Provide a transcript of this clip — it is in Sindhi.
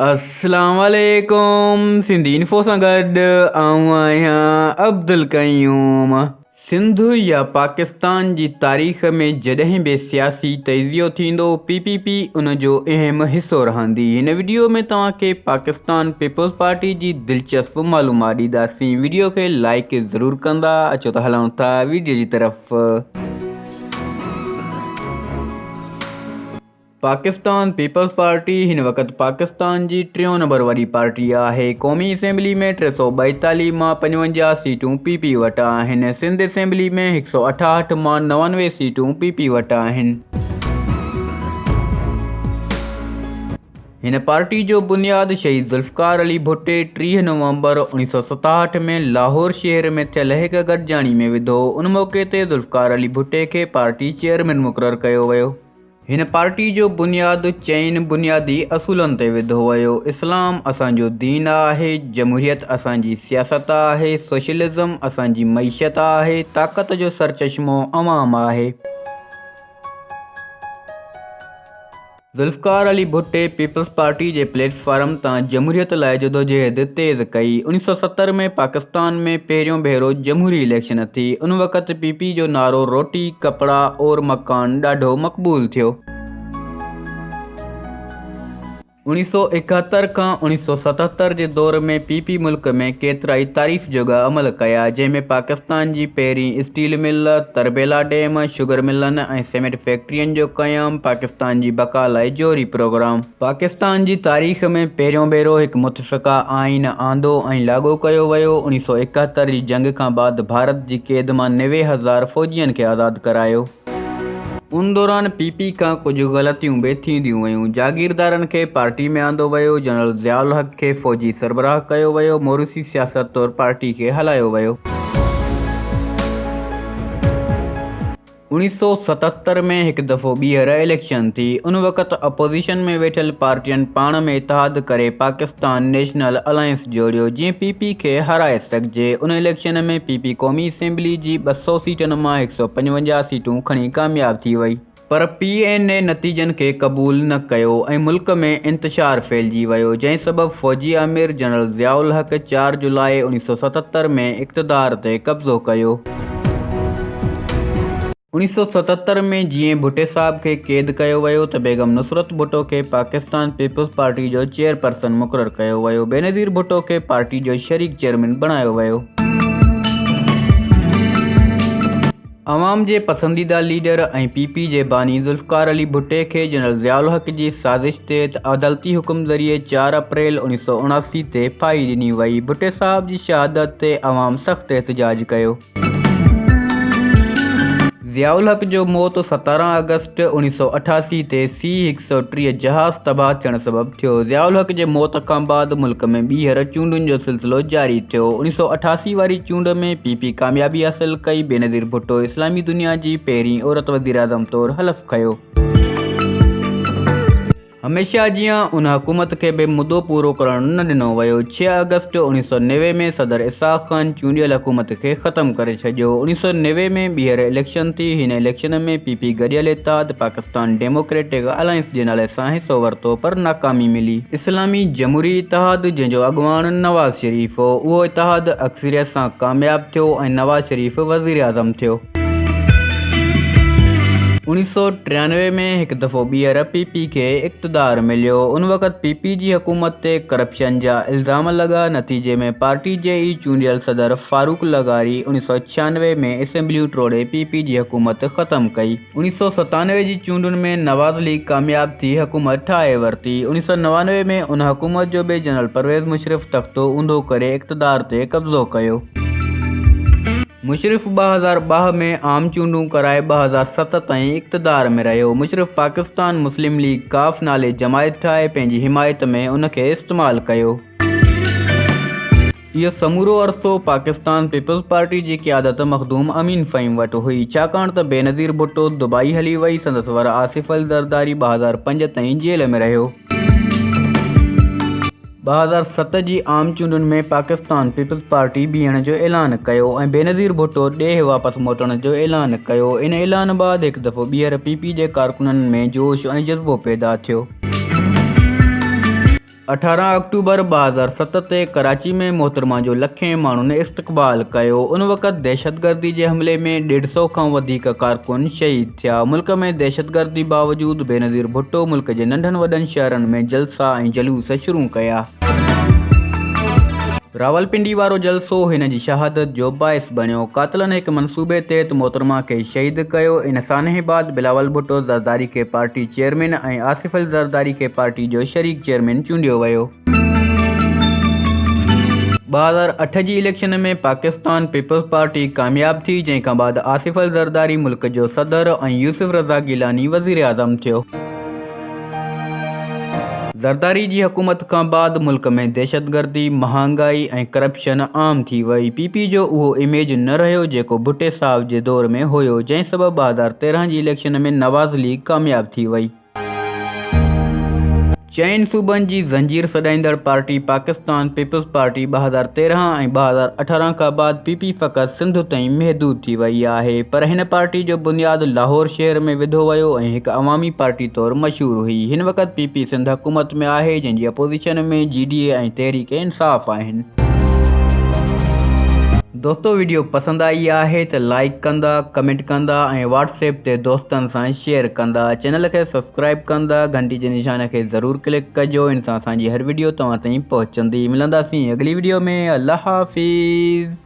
اسلام عليڪم سنڌي انفو سان گڏ آئون آهيان عبدالقيوم سنڌ يا پاڪستان جي تاريخ ۾ جڏهن به سياسي تجزيو ٿيندو پي پي پي ان جو اهم حصو رهندي هن وڊيو ۾ توهان کي پاڪستان پيپلز پارٽي جي دلچسپ معلومات ڏينداسين وڊيو کي لائيڪ ضرور ڪندا اچو ته هلون ٿا وڊيو جي طرف. پاڪستان پيپلز پارٽي هن وقت پاڪستان جي ٽيون نمبر وڏي پارٽي آهي. قومي اسيمبلي ۾ ٽي سؤ ٻائيتاليهه مان پنجونجاهه سيٽون پي پي وٽ آهن. سنڌ اسيمبلي ۾ هڪ سؤ اٺاهٺ مان نوانوي سيٽون پي پي وٽ آهن. هن پارٽي جو بنياد شهيد ذوالفقار علي ڀٽي ٽيهه نومبر اوڻيهه سؤ ستاهٺ ۾ لاهور شهر ۾ ٿيل هڪ گڏجاڻي ۾ وڌو. ان موقعي تي ذوالفقار علي ڀٽي کي پارٽي چيئرمين مقرر ڪيو ويو. هن پارٽي جو بنياد چئن بنيادي اصولن تي وڌو ويو، اسلام اسان جو دين آهي، جمهوريت اسان جي سياست آهي، سوشلزم اسان جي معيشت آهي، طاقت جو سرچشمو عوام آهي. ذوالفقار علي ڀٽي پيپلز پارٽي جي پليٽ فارم تان جمهوريت لاء جدوجهد تيز ڪئي. اڻ سؤ ستر ۾ پاڪستان ۾ پهريون ڀيرو جمهوري اليڪشن ٿي، ان وقت پي پي جو نعرو روٽي، ڪپڙا اور مڪان ڏاڍو مقبول ٿيو. اوڻيھ سؤ ايڪهتر کان اوڻيھ سؤ ستهتر جي دور ۾ پي پي ملڪ ۾ ڪيترائي تعريف جوڳا عمل ڪيا، جنهن ۾ پاڪستان جي پهرين steel mill, Tarbela dam, sugar ملن ۽ سيمنٽ فيڪٽرين جو قيام، پاڪستان جي بقا لاء جوهري پروگرام. پاڪستان جي تاريخ ۾ پهريون ڀيرو هڪ شڪا آئين آندو ۽ لاڳو ڪيو ويو. اوڻيھ سؤ ايڪاهتر جي جنگ کان بعد ڀارت جي قيد مان نوي هزار فوجين کي آزاد ڪرايو. ان دوران پي پي کان ڪجهه غلطيون به ٿينديون ويون. جاگيردارن کي پارٽي ۾ آندو ويو. جنرل ضياء الحق کي فوجي سربراهه ڪيو ويو. موروثي سياست طور پارٽي کي هلايو ويو. اوڻيهه سؤ ستهتر ۾ هڪ دفعو ٻيهر اليڪشن ٿي. ان وقت اپوزيشن ۾ ويٺل پارٽين پاڻ ۾ اتحاد ڪري پاڪستان نيشنل الائنس جوڙيو، جيئن پي پي کي هارائي سگهجي. ان اليڪشن ۾ پي پي قومي اسيمبلي جي ٻه سؤ سيٽن مان هڪ سؤ پنجونجاهه سيٽون کڻي ڪامياب ٿي وئي. پر پي اين اي نتيجن کي قبول نه ڪيو ۽ ملڪ ۾ انتشار ڦهلجي ويو، جنهن سبب فوجي آمر جنرل ضياء الحق چار جولاء اوڻيهه سؤ ستهتر ۾ اقتدار تي قبضو ڪيو. اوڻيهه سؤ ستهتر ۾ جيئن ڀٽي صاحب کي قيد ڪيو ويو ته بيگم نصرت ڀٽو کي پاڪستان پيپلز پارٽي جو چيئرپرسن مقرر ڪيو ويو. بينظير ڀٽو کي پارٽي جو شريڪ چيئرمين بڻايو ويو. عوام جي پسنديده ليڊر ۽ پي پي جي باني ذوالفقار علي ڀٽي کي جنرل ضياء الحق جي سازش تي ته عدالتي حڪم ذريعي چار اپريل اوڻيھ سؤ اڻاسي تي ڦاهي ڏني وئي. ڀٽي صاحب جي شهادت تي عوام سخت احتجاج ڪيو. ضياء الحق جو موت ستارهن آگسٽ اوڻيھ سؤ اٺاسي تي سي هڪ سؤ ٽيهه جهاز تباهه ٿيڻ سبب ٿيو. ضياء الحق جي موت کان بعد ملڪ ۾ ٻيهر چونڊن جو سلسلو جاري ٿيو. اوڻيھ سؤ اٺاسي واري چونڊ ۾ پي پي ڪاميابي حاصل ڪئي. بينظير ڀٽو اسلامي دنيا جي پهرين عورت وزيراعظم طور حلف کنيو. هميشه جيان ان حڪومت کي به مدو پورو ڪرڻ نه ڏنو ويو. ڇهه آگسٽ اڻويهه سؤ نوي ۾ صدر اسحاق خان چونڊيل حڪومت کي ختم ڪري ڇڏيو. اڻويهه سؤ نوي ۾ ٻيهر اليڪشن ٿي. هن اليڪشن ۾ پي پي گڏيل اتحاد پاڪستان ڊيموڪريٽڪ الائنس جي نالي سان حصو ورتو پر ناڪامي ملي. اسلامي جمهوري اتحاد جنهن جو اڳواڻ نواز شريف هو اهو اتحاد اڪثريت سان ڪامياب ٿيو ۽ نواز شريف وزيراعظم ٿيو. اوڻيھ سؤ ٽيانوي ۾ هڪ دفعو ٻيهر پي پي کي اقتدار مليو. ان وقت پي پي جي حڪومت تي ڪرپشن جا الزام لڳا. نتيجي ۾ پارٽي جي ئي چونڊيل صدر فاروق لغاري اوڻيھ سؤ ڇيانوي ۾ اسيمبليون ٽوڙي پي پي جي حڪومت ختم ڪئي. اوڻيھ سؤ ستانوي جي چونڊن ۾ نواز ليگ ڪامياب ٿي حڪومت ٺاهي ورتي. اوڻيھ سؤ نوانوي ۾ ان حڪومت جو به جنرل پرويز مشرف تختو اونڌو ڪري اقتدار تي قبضو ڪيو. مشرف ٻه هزار ٻه ۾ عام چونڊون ڪرائي ٻه هزار ست تائين اقتدار ۾ رهيو. مشرف پاڪستان مسلم ليگ ق نالي جماعت ٺاهي پنهنجي حمايت ۾ ان کي استعمال ڪيو. اهو سمورو عرصو پاڪستان پيپلز پارٽي جي قيادت مخدوم امين فهيم وٽ هئي، ڇاڪاڻ ته بينظير ڀٽو دبئي هلي وئي، سندس ور آصف الزرداري ٻه هزار پنج تائين جيل ۾ رهيو. ٻه هزار ست جي عام چونڊن ۾ پاڪستان پيپلز پارٽي بيهڻ جو اعلان ڪيو ۽ بينظير ڀٽو ڏيهه واپس موٽڻ جو اعلان ڪيو ان اعلان بعد هڪ دفعو ٻيهر پي پي جي ڪارڪنن ۾ جوش ۽ جذبو پيدا ٿيو. اٺارهن آڪٽوبر ٻه هزار ست تي ڪراچي ۾ محترمه جو لکين ماڻهن استقبال ڪيو ان وقت دهشتگردي جي حملي ۾ ڏيڍ سئو کان وڌيڪ ڪارڪن شهيد ٿيا، ملڪ ۾ دهشتگردي باوجود بينظير ڀٽو ملڪ جي ننڍن وڏن شهرن ۾ جلسا ۽ جلوس شروع ڪيا. راولپنڊي وارو جلسو هن جي شهادت جو باعث بڻيو، قاتلن هڪ منصوبي تحت محترمه کي شهيد ڪيو، ان سانحي بعد بلاول ڀٽو زرداري کي پارٽي چيئرمين ۽ آصف علي زرداري کي پارٽي جو شريڪ چيئرمين چونڊيو ويو. ٻه هزار اٺ جي اليڪشن ۾ پاڪستان پيپلز پارٽي ڪامياب ٿي، جنهن کان بعد آصف الزرداري ملڪ جو صدر ۽ يوسف رضا گيلاني وزيراعظم ٿيو. زرداري جي حڪومت کان بعد ملڪ ۾ دهشتگردي، مهانگائي ۽ ڪرپشن عام ٿي وئي. پي پي جو اهو اميج نه رهيو جيڪو ڀٽي صاحب جي دور ۾ هيو، جنهن سبب ٻه هزار تيرنهن جي اليڪشن ۾ نواز ليگ ڪامياب ٿي وئي. چئن صوبن جي زنجير سڏائيندڙ پارٽي پاڪستان پيپلز پارٽي ٻه هزار تيرهن ۽ ٻه هزار اٺارهن کان بعد پي پي فقط سنڌ تائين محدود ٿي وئي آهي پر هن پارٽي جو بنياد لاهور شهر ۾ وڌو ويو ۽ هڪ عوامي پارٽي طور مشهور هئي هن وقت پي پي سنڌ حڪومت ۾ آهي جنهن جي opposition ۾ G D A ۽ Tehreek Insaf آهن. دوستو ويڊيو پسند آئي آهي ته لائيڪ ڪندا ڪمينٽ ڪندا ۽ واٽس ايپ تي دوستن سان شيئر ڪندا چينل کي سبسڪرائيب ڪندا گهنٽي جي نشان کي ضرور ڪلڪ ڪجو ان سان اسان جي هر ويڊيو توهان تائين پهچندي ملنداسين اڳلي ويڊيو ۾ الله حافظ